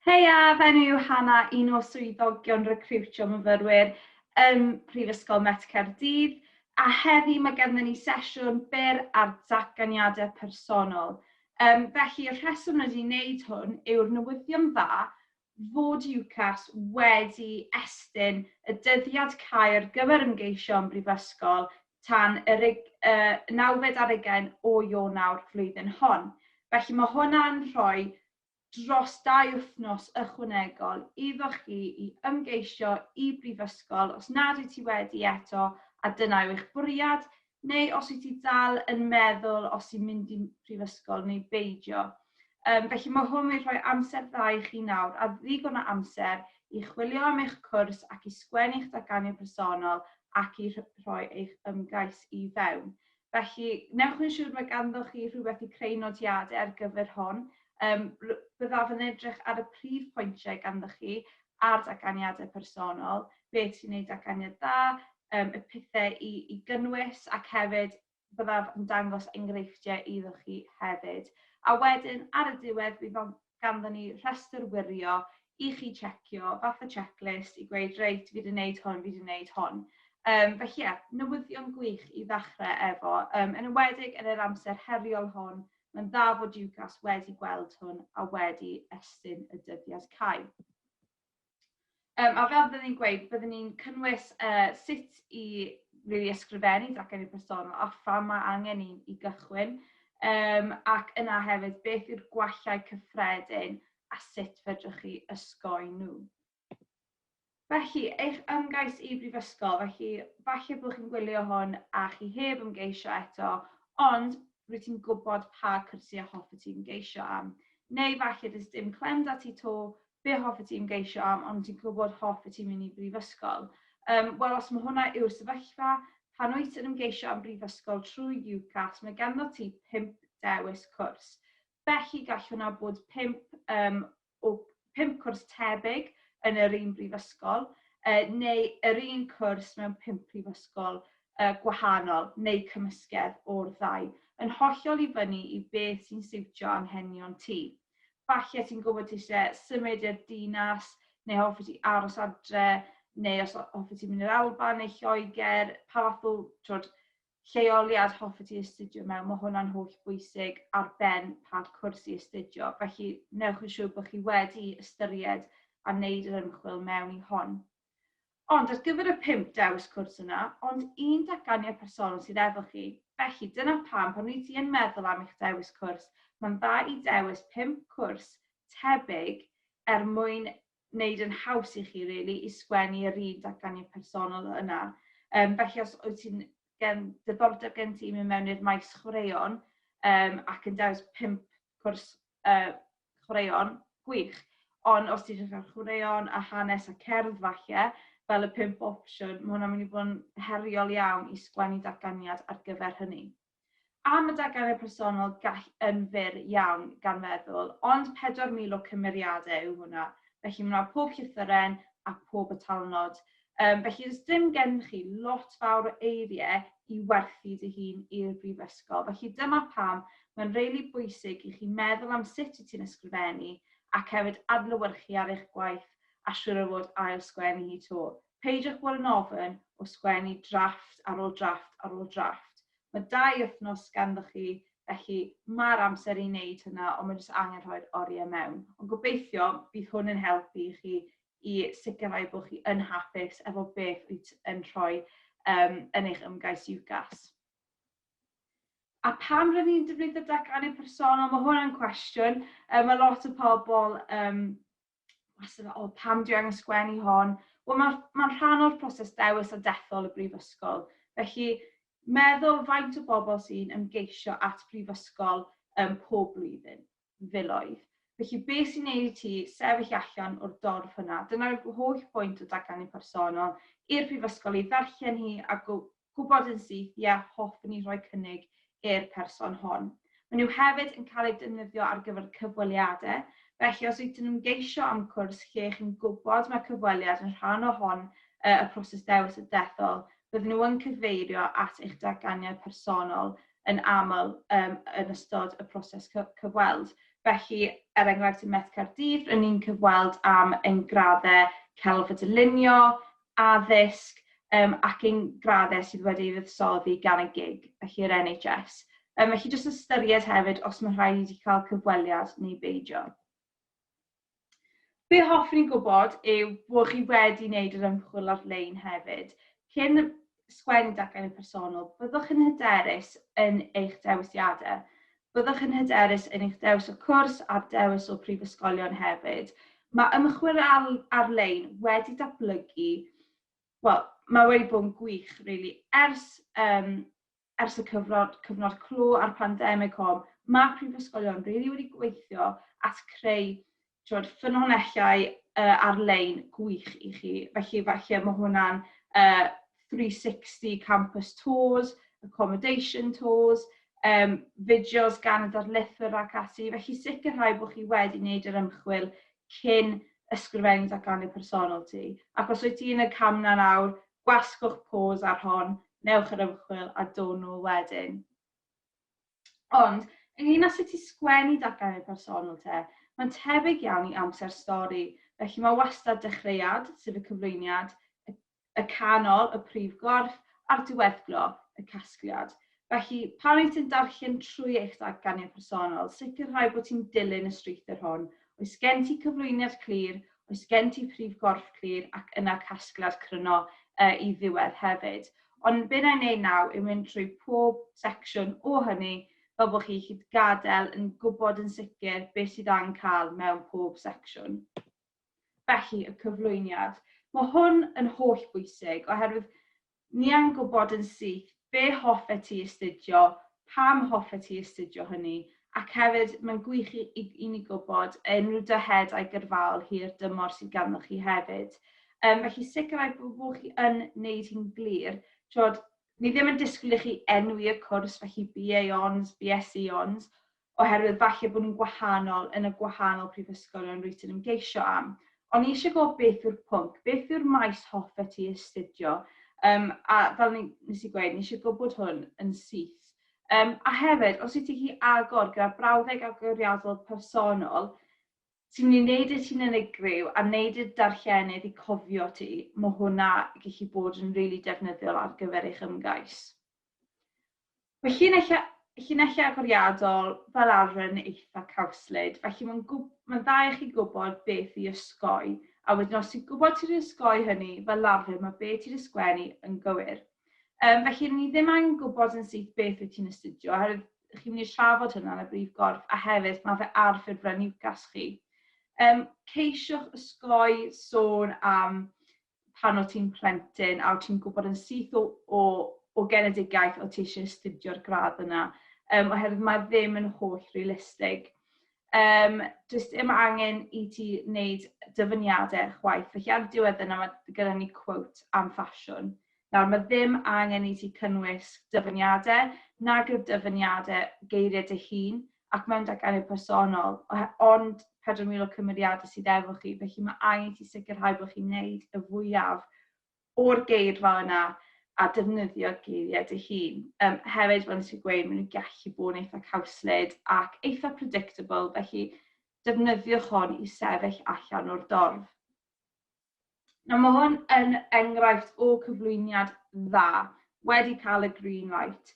Heia, fy enw yw Hana, un o swyddogion recriwtio myfyrwyr ym Mhrifysgol Met Caerdydd, a heddi mae ganddyn ni sesiwn byr ar datganiadau personol. Um, felly, y rheswm rydyn ni'n neud hwn yw'r newyddion dda fod UCAS wedi estyn y dyddiad cau ar gyfer ymgeisio am brifysgol tan y rug- y nawfed ar ugain o Ionawr flwyddyn hon. Felly mae hwnna'n rhoi dros dau wythnos ychwanegol iddo chi i ymgeisio i brifysgol os nad wyt ti wedi eto a dyna yw eich bwriad, neu os wyt ti dal yn meddwl os i mynd i prifysgol neu beidio. Yym, felly mae hwn wedi rhoi amser dda i chi nawr, a ddigon o amser, i chwilio am eich cwrs ac i sgwennu'ch datganiad personol ac i rhoi eich ymgais i fewn. Felly, newch yn siŵr mae ganddoch chi rhywbeth i creu nodiadau ar gyfer hon. Yym, byddaf yn edrych ar y prif pwyntiau ganddoch chi ar datganiadau personol, beth sy'n ei datganiad dda, yym, y pethau i i gynnwys ac hefyd byddaf yn dangos enghreifftiau iddo chi hefyd. A wedyn, ar y diwedd, bydd ganddo ni rhestr wirio i chi checio, fath o checklist, i gweud, reit, fi wedi gwneud hwn, fi wedi gwneud hwn. Um, felly ie, yeah, newyddion gwych i ddechrau efo, um, yn ywedig yn yr amser heriol hwn, mae'n dda fod UCAS wedi gweld hwn a wedi estyn y dyddiad cau. Um, a fel byddwn ni'n gweud, byddwn ni'n cynnwys uh, sut i really ysgrifennu dracennu personol a pha mae angen i, i gychwyn, um, ac yna hefyd beth yw'r gwallau cyffredin a sut fedrwch chi ysgoi nhw. Felly, eich ymgais i brifysgol, felly falle bod chi'n gwylio hwn a chi heb ymgeisio eto, ond rwy ti'n gwybod pa cyrsiau hoffet ti'n geisio am. Neu falle dys dim clem da ti to, be hoffet ti ymgeisio am ond ti'n gwybod hoffet ti mynd i brifysgol? Yym, wel os mae hwnna yw'r sefyllfa, pan wyt yn ymgeisio am brifysgol trwy UCAS, mae ganddo ti pump dewis cwrs. Felly gall hwnna bod pump, um, o pump cwrs tebyg yn yr un brifysgol, uh, neu yr un cwrs mewn pump prifysgol uh, gwahanol, neu cymysgedd o'r ddau, yn hollol i fyny i beth sy'n siwtio anghenion ti. Falle ti'n gwybod ti eisiau symud i'r dinas, neu hoffi ti aros adre, neu os hoffi ti mynd i'r Alban neu Lloegr, pa fath o twod, lleoliad hoffi ti astudio mewn, mae hwnna'n holl bwysig ar ben pa cwrs i astudio, felly wnewch yn siŵr bod chi wedi ystyried a wneud yr ymchwil mewn i hon. Ond ar gyfer y pump dewis cwrs yna, ond un datganiad personol sydd efo chi. Felly, dyna pam, pan wyt ti yn meddwl am eich dewis cwrs, mae'n dda i dewis pump cwrs tebyg er mwyn wneud yn haws i chi, rili, i sgwennu yr un datganiad personol yna. Yym, felly, os wyt ti'n gen ddiddordeb gen ti i mynd mewn i'r maes chwaraeon um, ac yn dewis pump cwrs uh, chwaraeon, gwych. Ond os ti'n dechrau chwaraeon a hanes a cerdd falle, fel y pimp opsiwn, mae hwnna'n mynd i fod yn heriol iawn i sgwennu datganiad ar gyfer hynny. Am y datganiad personol gall yn fyr iawn gan feddwl, ond 4,000 o cymeriadau yw hwnna, felly mae yna pob llythyren a pob y talnod Yym, felly does dim gen chi lot fawr o eiriau i werthu dy hun i'r brifysgol. Felly dyma pam mae'n really bwysig i chi meddwl am sut i ti'n ysgrifennu ac hefyd adlewyrchu ar eich gwaith a siŵr o fod ail sgwennu hi to. Peidiwch bod yn ofyn o sgwennu drafft ar ôl drafft ar ôl drafft. Mae dau wythnos ganddoch chi felly mae'r amser i wneud hynna ond mae jyst angen rhoi'r oriau mewn. Ond gobeithio bydd hwn yn helpu i chi i sicrhau bod chi yn hapus efo beth wyt yn rhoi um, yn eich ymgais UCAS. A pam rydyn ni'n defnyddio datganiad personol? Mae hwnna'n cwestiwn. Um, mae lot o pobl um, wastad o oh, pam dwi angen sgwennu hon? Wel, mae'n ma rhan o'r proses dewis a dethol y brifysgol. Felly, meddwl faint o bobl sy'n ymgeisio at brifysgol um, pob blwyddyn. filoedd. Felly be sy'n neud i ti sefyll allan o'r dorf hwnna? Dyna'r holl bwynt o Datganni Personol, i'r prifysgol ei ddarllen hi a gwybod yn syth, ie, hoffwn i rhoi cynnig i'r person hon. Maen nhw hefyd yn cael eu defnyddio ar gyfer cyfweliadau, felly os wyt ti'n ymgeisio am cwrs lle chi'n gwybod mae cyfweliad yn rhan o hon y proses dewis a dethol, bydden nhw yn cyfeirio at eich datganiad personol yn aml yym yn ystod y proses cy- cyfweld. Felly, er enghraifft ym Met Caerdydd, ry'n ni'n cyfweld am ein graddau celf a dylunio, addysg um, ac ein graddau sydd wedi ei fuddsoddi gan y gig, felly yr NHS. Um, felly jyst ystyried hefyd os mae rhaid i cael cyfweliad neu beidio. Be hoffwn i gwybod yw bod chi wedi wneud yr ymchwil ar-lein hefyd. Cyn sgwennu dacen yn personol, byddwch yn hyderus yn eich dewisiadau. Byddwch yn hyderus yn eich dewis o cwrs a'r dewis o brifysgolion hefyd. Mae ymchwil ar-lein wedi datblygu, wel, mae wedi bod yn gwych, rili, ers um, ers y cyfnod, cyfnod clo a'r pandemig hon, mae prifysgolion rili wedi gweithio at creu tywed, ffynonellau uh, ar-lein gwych i chi. Felly falle mae hwnna'n uh, 360 campus tours, accommodation tours, um, fideos gan y darlithwyr ac ati. Felly sicrhau bod chi wedi wneud yr ymchwil cyn ysgrifennu datganiad personol ti. Ac os wyt ti yn y cam na nawr, Gwasgwch pause ar hon, newch yr ymchwil a down nôl wedyn. Ond, ynglŷn â sut i sgwennu datganiad personol te, mae'n tebyg iawn i amser stori, felly mae wastad dechreuad, sef y cyflwyniad, y canol, y prif gorff, a'r diweddglo, y casgliad. Felly, pan wyt ti'n darllen trwy eich datganiad personol, sicrhau bod ti'n dilyn y strwythur hwn, oes gen ti cyflwyniad clir, oes gen ti prif gorff clir ac yna casgliad cryno uh, i ddiwedd hefyd. Ond be na i wneud naw yw mynd trwy pob secsiwn o hynny fel bod chi hyd gadael yn gwybod yn sicr beth sydd angen cael mewn pob secsiwn. Felly, y cyflwyniad. Mae hwn yn holl bwysig oherwydd Ni am gwybod yn syth be hoffet ti astudio, pam hoffet ti astudio hynny, ac hefyd, mae'n gwych i i i ni gwybod yy unrhyw dyheadau gyrfaol hir dymor sydd ganddoch chi hefyd. Yym felly sicrhau bo' bo' chi yn wneud hi'n glir, t'wod, ni ddim yn disgwyl i chi enwi y cwrs, felly BA Hons, BSc Hons, oherwydd falle bod nhw'n gwahanol yn y gwahanol prifysgolion rwyt yn ymgeisio am. O'n i eisiau gwybod beth yw'r pwnc, beth yw'r maes hoffet ti astudio, um, a fel ni, nes i gweud, ni eisiau gwybod hwn yn syth. Um, a hefyd, os ydych chi agor gyda brawddeg agoriadol personol, sy'n mynd i wneud i ti'n unigryw a wneud i'r darllenydd i cofio ti, mae hwnna gallu bod yn rili really defnyddiol ar gyfer eich ymgais. Mae llinellau, llinellau agoriadol fel arfer yn eitha' cawslyd, felly mae'n gw-, mae'n dda i chi gwybod beth i osgoi, a wedyn os ti'n gwybod sut i osgoi hynny, fel arfer mae be' ti 'di sgwennu yn gywir. Yym felly ry'n ni ddim angen gwybod yn syth beth wyt ti'n astudio oherwydd chi'n mynd i trafod hynna yn y brif gorff a hefyd mae fe ar ffurflen UCAS chi. Yym ceisiwch osgoi sôn am pan o ti'n plentyn a o ti'n gwybod yn syth o, o, o genedigaeth o ti eisiau astudio'r gradd yna, um, oherwydd mae ddim yn holl realistig. Um, does dim angen i ti wneud dyfyniadau chwaith. Felly ar y diwedd yna mae gyda ni quote am ffasiwn. Nawr mae ddim angen i ti cynnwys dyfyniadau nag yw'r dyfyniadau geiriau dy hun, ac mewn dy enw personol, ond 4,000 o cymeriadau sydd efo chi, felly mae angen i ti sicrhau bod chi'n neud y fwyaf o'r geirfa yna a defnyddio geiriau dy hun. Um, hefyd, fel nes i gweud, maen nhw'n gallu bod yn eitha cawslyd ac eitha predictable, felly defnyddiwch hon i sefyll allan o'r dorf. Nawr mae hwn yn enghraifft o cyflwyniad dda, wedi cael y green light.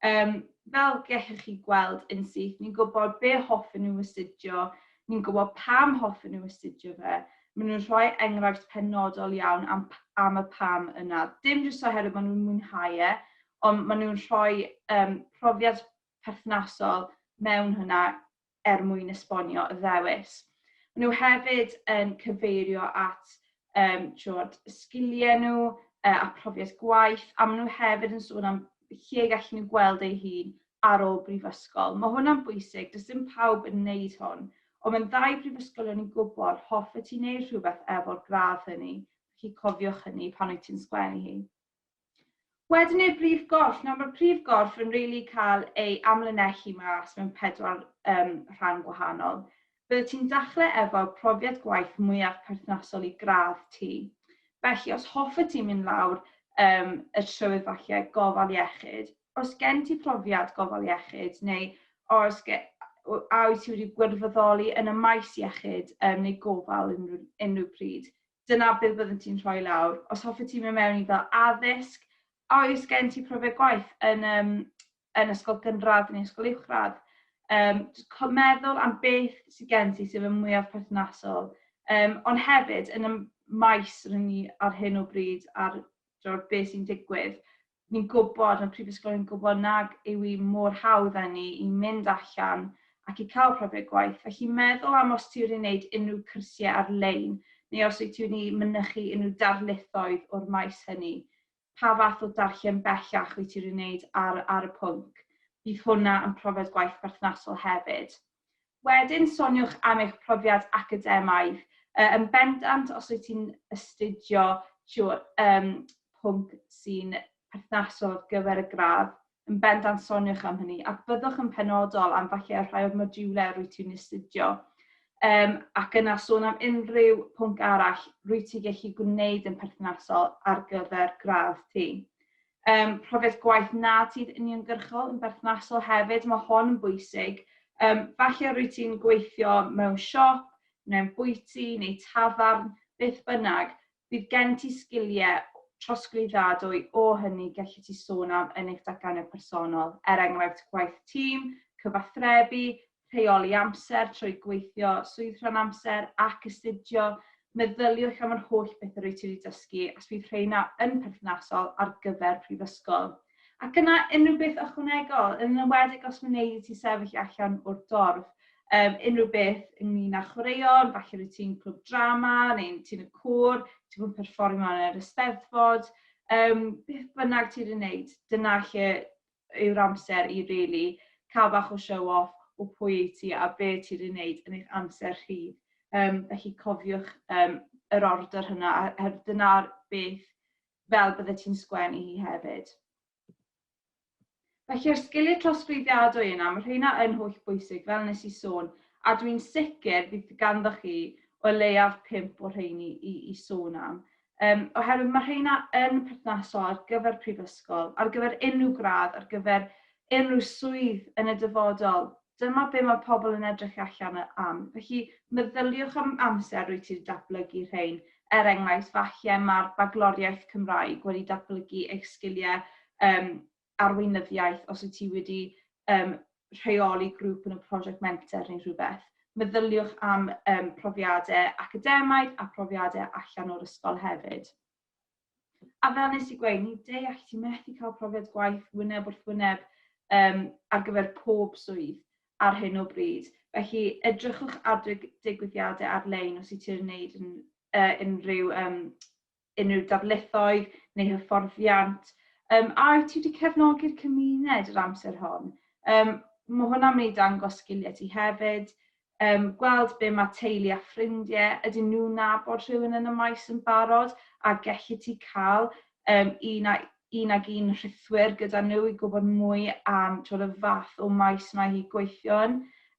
Um, fel gellwch chi gweld yn syth, ni'n gwybod be hoffen nhw astudio, ni'n gwybod pam hoffen nhw astudio fe, maen nhw'n rhoi enghraifft penodol iawn am, am y pam yna. Dim jyst oherwydd maen nhw'n mwynhau e, ond maen nhw'n rhoi um, profiad perthnasol mewn hynna er mwyn esbonio y ddewis. Maen nhw hefyd yn cyfeirio at um, trod, sgiliau nhw uh, a profiad gwaith, a maen nhw hefyd yn sôn am lle gallen nhw gweld eu hun ar ôl brifysgol. Mae hwnna'n bwysig, does dim pawb yn wneud hwn, ond mae'n ddau brifysgol o'n i'n gwybod, hoffet ti'n neud rhywbeth efo'r gradd hynny, chi cofiwch hynny pan wyt ti'n sgwennu hi. Wedyn i'r brif gorff. Nawr mae'r prif gorff yn really cael ei amlinellu mas mewn pedwar um, rhan gwahanol. Byddet ti'n dachle efo profiad gwaith mwyaf perthnasol i gradd ti. Felly, os hoffet ti mynd lawr um, y trywydd falle gofal iechyd, os gen ti profiad gofal iechyd neu os gen, a wyt ti wedi gwirfoddoli yn y maes iechyd um, neu gofal unrhyw, unrhyw pryd, dyna beth byddet ti'n rhoi lawr. Os hoffet ti mynd mewn i fel addysg, a oes gen ti profiad gwaith yn, um, yn ysgol gynradd neu ysgol uwchradd, um, cael meddwl am beth sydd gen ti sydd yn mwyaf perthnasol, um, ond hefyd yn y maes rydyn ni ar hyn o bryd ar beth sy'n digwydd, ni'n gwybod, mae'r prifysgol yn gwybod nag yw hi mor hawdd â ni i mynd allan ac i cael profiad gwaith, felly meddwl am os ti wedi wneud unrhyw cyrsiau ar-lein neu os wyt ti wedi mynychu unrhyw darlithoedd o'r maes hynny. Pa fath o darllen bellach wyt ti wedi wneud ar ar y pwnc? Bydd hwnna yn profiad gwaith perthnasol hefyd. Wedyn soniwch am eich profiad academaidd, yy yn bendant os wyt ti'n astudio tiwr yym pwnc sy'n perthnasol ar gyfer y gradd, yn bendant soniwch am hynny ac byddwch yn penodol am falle rhai o'r modiwlau rwyt ti'n astudio yym ac yna sôn am unrhyw pwnc arall rwyt ti'n gallu gwneud yn perthnasol ar gyfer gradd ti. um, profiad gwaith na ti'n uniongyrchol yn berthnasol hefyd, mae hon yn bwysig. Um, falle rwy ti'n gweithio mewn siop, mewn bwyty neu tafarn, beth bynnag, bydd gen ti sgiliau trosglwyddadwy o hynny gallu ti sôn am yn eich datganiad personol, er enghraifft gwaith tîm, cyfathrebu, rheoli amser trwy gweithio swydd rhan amser ac astudio, meddyliwch am yr holl bethe rwyt ti wedi dysgu a s fydd rheina yn perthnasol ar gyfer prifysgol. Ac yna unrhyw beth ychwanegol, yn enwedig os wneud i ti sefyll allan o'r dorf, um, unrhyw beth ynglyn â chwaraeon, falle rwyt ti'n clwb drama neu'n ti'n y cwr, ti'n bod yn perfformio yn yr ysteddfod, um, beth bynnag ti wedi wneud, dyna lle yw'r amser i rili cael bach o show off o pwy wyt ti a be ti wedi wneud yn eich amser rhydd. Yym felly cofiwch yym yr ordr hwnna a a dyna beth fel byddet ti'n sgwennu hi hefyd. Felly yr sgiliau trosglwyddiadwy yna, mae rheina yn holl bwysig fel nes i sôn a dwi'n sicr bydd ganddoch chi o leiaf pump o rheini i i sôn am. um, oherwydd mae rheina yn perthnasol ar gyfer prifysgol, ar gyfer unrhyw gradd, ar gyfer unrhyw swydd yn y dyfodol. Dyma be mae pobl yn edrych allan am. Felly, meddyliwch am amser rwy ti'n datblygu rhain. Er enghraifft, falle mae'r bagloriaeth Cymraeg wedi datblygu eich sgiliau um, arweinyddiaeth, os wyt ti wedi um, rheoli grŵp yn y prosiect menter neu rhywbeth, meddyliwch am um, profiadau academaidd a profiadau allan o'r ysgol hefyd. A fel nes i gweud, ni deall ti methu cael profiad gwaith wyneb wrth wyneb um, ar gyfer pob swydd ar hyn o bryd. Felly, edrychwch ar digwyddiadau ar-lein os i ti'n wneud yn, uh, unrhyw um, unrhyw darlithoedd neu hyfforddiant, yym a wyt ti 'di cefnogi'r cymuned yr amser hon? Yym ma' hwnna'n mynd i dangos sgilie ti hefyd, yym gweld be' ma' teulu a ffrindie, ydyn nhw'n nabod rhywun yn y maes yn barod a gelli ti ca'l yym un a- un ag un rhithwir gyda nhw i gwbod mwy am t'wod y fath o maes mae hi gweithio yn.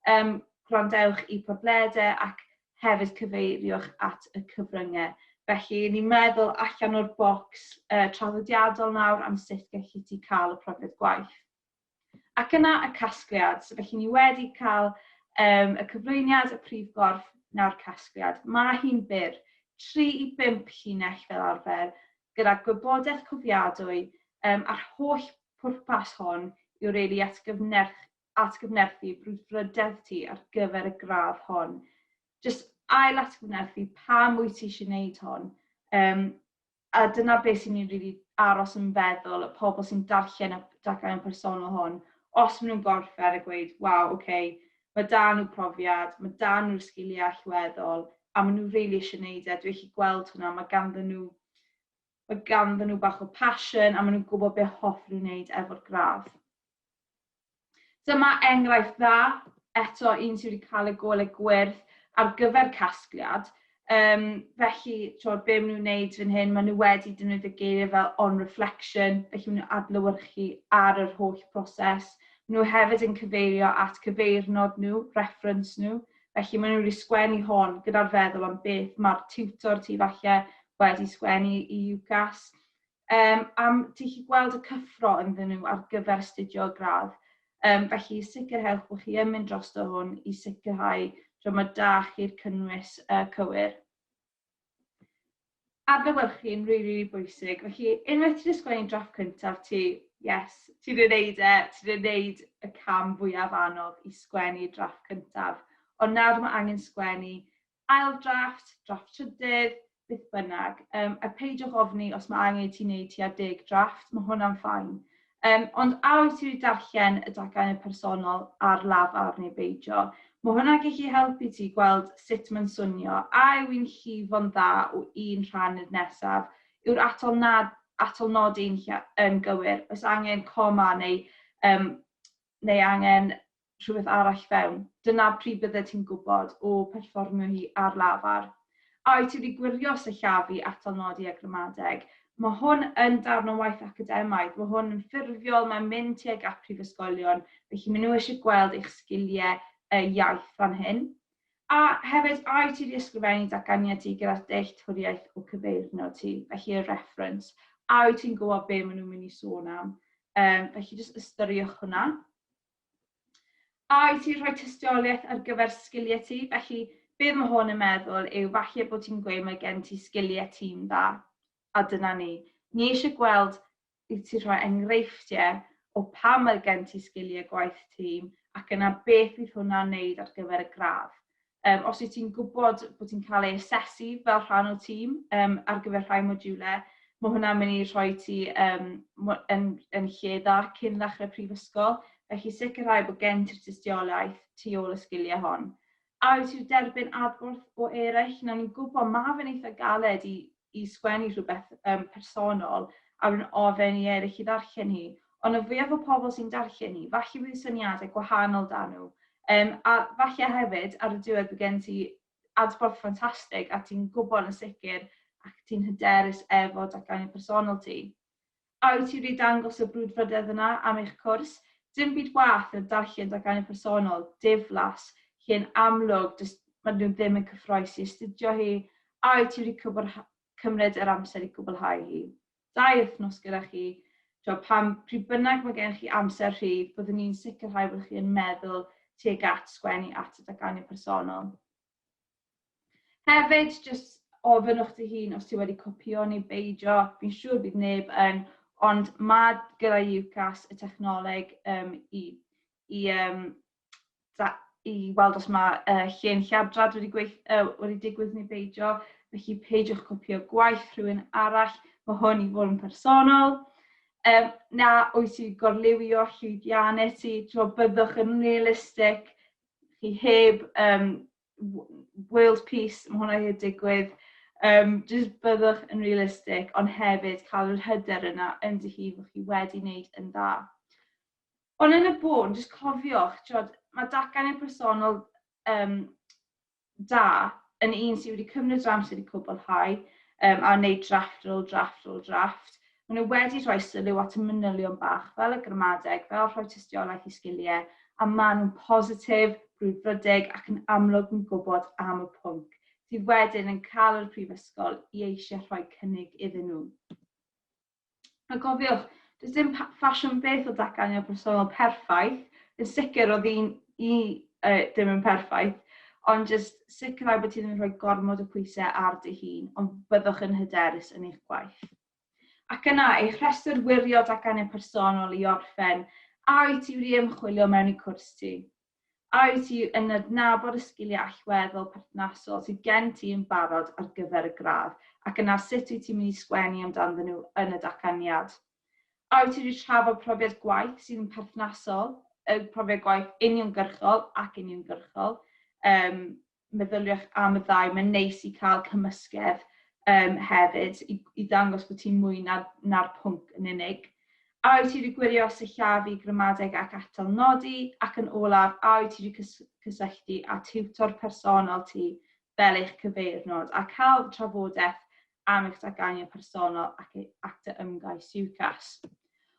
Yym gwrandewch i podlede ac hefyd cyfeirio'ch at y cyfryngau. Felly, ni'n meddwl allan o'r bocs uh, traddodiadol nawr am sut gallu ti cael y profiad gwaith. Ac yna y casgliad. So, felly, ni wedi cael um, y cyflwyniad, y prif gorff, nawr casgliad. Mae hi'n byr, 3 i 5 llinell fel arfer, gyda gwybodaeth cofiadwy um, a'r holl pwrpas hon yw reili at gyfnerch, atgyfnerthu brwdfrydedd ti ar gyfer y gradd hon. Jyst ail atgyfnerthu pam wyt ti eisiau gwneud hon. Um, a dyna beth sy'n ni'n rili aros yn feddwl y pobl sy'n darllen y daclau'n personol hon, os maen nhw'n gorffen a gweud, waw, oce, okay, mae da nhw profiad, mae da nhw'r sgiliau allweddol, a maen nhw'n rili eisiau gwneud e, dwi eich gweld hwnna, mae ganddyn nhw mae ganddyn nhw bach o passion a maen nhw'n gwybod beth hoff nhw'n gwneud efo'r gradd. Dyma enghraifft dda, eto un sydd wedi cael y golau gwyrdd ar gyfer casgliad, um, felly tywed, be maen nhw'n wneud fan hyn, maen nhw wedi defnyddio geiriau fel on reflection, felly maen nhw'n adlywyrchu ar yr holl broses. Maen nhw hefyd yn cyfeirio at cyfeirnod nhw, reference nhw, felly maen nhw wedi sgwennu hon gyda'r feddwl am beth mae'r tutor tu falle wedi sgwennu i UCAS. um, am ti chi gweld y cyffro ynddyn nhw ar gyfer astudio y gradd. Um, felly sicrhewch bod chi yn mynd dros o hwn i sicrhau tro mae da chi'r cynnwys uh, cywir. Adlewyrchu yn rili, rili bwysig. Felly, unwaith ti'n ysgrifennu drafft cyntaf ti, yes, ti wedi gwneud e, ti wedi gwneud y cam fwyaf anodd i sgwennu drafft cyntaf. Ond nawr mae angen sgwennu ail drafft, drafft trydydd, beth bynnag. Um, a peidiwch ofni os mae angen i ti wneud tua deg drafft, mae hwnna'n ffain. Um, ond a wyt ti wedi darllen y dacau yn personol ar lafar neu beidio? Mae hwnna'n gallu helpu ti gweld sut mae'n swnio, a yw i'n llifo'n dda o un rhan i'r nesaf, yw'r atol nad atol nod ein yn gywir, oes angen coma neu, um, neu angen rhywbeth arall fewn. Dyna pryd byddet ti'n gwybod, o, perfformio hi ar lafar. A wyt ti wedi gwirio sillafu atal nodi a gramadeg? Mae hwn yn darn o waith academaidd, mae hwn yn ffurfiol, mae'n mynd tuag at prifysgolion, felly maen nhw eisiau gweld eich sgiliau y iaith fan hyn. A hefyd, a wyt ti wedi ysgrifennu datganiad ti gyda'r dealltwriaeth o cyfeirnod ti, felly y reference, a wyt ti'n gwybod be maen nhw'n mynd i sôn am? Yym, felly jyst ystyriwch hwnna. A wyt ti'n rhoi tystiolaeth ar gyfer sgiliau ti? Felly, beth mae hwn yn meddwl yw falle bod ti'n gweud mae gen ti sgiliau ti'n dda, a dyna ni. Ni eisiau gweld i ti rhoi enghreifftiau o pam mae gen ti sgiliau gwaith tîm ac yna beth fydd hwnna'n wneud ar gyfer y gradd. Um, os wyt ti'n gwybod bod ti'n cael ei asesu fel rhan o tîm um, ar gyfer rhai modiwlau, mae hwnna'n mynd i rhoi ti um, yn, yn lle dda cyn ddechrau prifysgol, felly sicrhau bod gen ti'r tystiolaeth tu ôl y sgiliau hon. A wyt ti'n derbyn adborth o eraill? Nawr ni'n gwybod mae fe'n eitha galed i i sgwennu rhywbeth um, personol a rwy'n ofyn i eraill i ddarllen hi, ond y fwyaf o pobl sy'n darllen hi, falle bydd syniadau gwahanol da nhw. Um, a falle hefyd, ar y diwedd bydd gen ti adborth ffantastig a ti'n gwybod yn sicr ac ti'n hyderus efo datganiad personol ti. A wyt ti wedi dangos y brwdfrydedd yna am eich cwrs? Dim byd waeth na darllen darganfod personol, diflas, hi yn amlwg, does ma nhw ddim yn cyffroes i astudio hi, a wyt ti wedi cwbl cymryd yr amser i gwblhau hi? Dau wythnos gyda chi, tibod, pan pryd bynnag mae gennych chi amser rhydd, byddwn ni'n sicrhau bod chi yn meddwl tuag at sgwennu at y darganfod personol. Hefyd, jyst ofynnwch dy hun os ti wedi copio neu beidio, fi'n siŵr bydd neb yn, ond mae gyda UCAS y technoleg um, i, i, um, da, i weld os mae uh, llun lladrad wedi, gweith, uh, wedi digwydd neu beidio, felly peidiwch copio gwaith rhywun arall, mae hwn i fod yn personol. Um, na, wyt ti gorliwio llwyddiannau ti, tro byddwch yn realistig, chi heb um, world peace, mae hwnna wedi digwydd, um, jyst byddwch yn realistig, ond hefyd cael yr hyder yna yn dy hun bod chi wedi wneud yn dda. Ond yn y bôn, jyst cofiwch, tiod, mae dacan i'r personol um, da yn un sydd wedi cymryd yr amser i cwblhau um, a wneud drafft ar ôl drafft ar ôl drafft, Maen nhw wedi rhoi sylw at y manylion bach, fel y gramadeg, fel rhoi tystiolaeth i sgiliau, a maen nhw'n positif, brwdfrydig ac yn amlwg yn gwybod am y pwnc, sydd wedyn yn cael yr prifysgol i eisiau rhoi cynnig iddyn nhw. A gofiwch, does dim ffasiwn beth o datganiad personol perffaith, yn sicr oedd un i uh, dim yn perffaith, ond jyst sicrhau bod ti ddim yn rhoi gormod o pwysau ar dy hun, ond byddwch yn hyderus yn eich gwaith. Ac yna, eich rhestr wirio datganiad personol i orffen, a wyt ti wedi ymchwilio mewn i cwrs ti? A wyt ti yn adnabod y sgiliau allweddol perthnasol sydd gen ti yn barod ar gyfer y gradd, ac yna sut wyt ti'n mynd i sgwennu amdanddyn nhw yn y datganiad? A wyt ti wedi trafod profiad gwaith sydd yn perthnasol, y profiad gwaith uniongyrchol ac uniongyrchol, um, meddyliwch am y ddau, mae'n neis i cael cymysgedd um, hefyd i, i ddangos bod ti'n mwy na'r, na pwnc yn unig. A wyt ti wedi gwirio sillafu, gramadeg ac atal nodi? Ac yn olaf, a wyt ti wedi cysylltu â tiwtor personol ti fel eich cyfeirnod a cael trafodaeth am eich datganiad personol ac ei acta ymgais UCAS.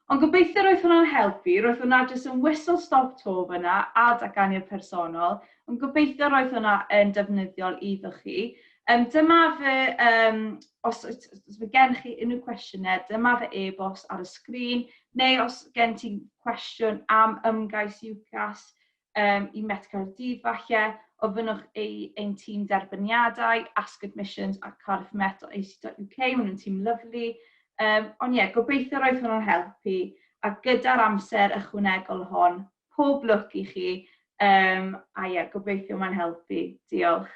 Ond gobeithio roedd hwnna'n helpu, roedd hwnna jyst yn whistle stop to fyna a datganiad personol, ond gobeithio roedd hwnna yn defnyddiol iddo chi. Um, dyma fy, um, os, os, os mae gen chi unrhyw cwestiynau, dyma fy e-bost ar y sgrin, neu os gen ti cwestiwn am ymgais UCAS, um, i Met Caerdydd falle, ofynnwch ei ein tîm derbyniadau, Ask Admissions a Cardiff Met o ac maen nhw'n tîm lyflu. Um, ond ie, yeah, gobeithio roedd hwnnw'n helpu, a gyda'r amser ychwanegol hon, pob lwc i chi, um, a ie, yeah, gobeithio mae'n helpu. Diolch.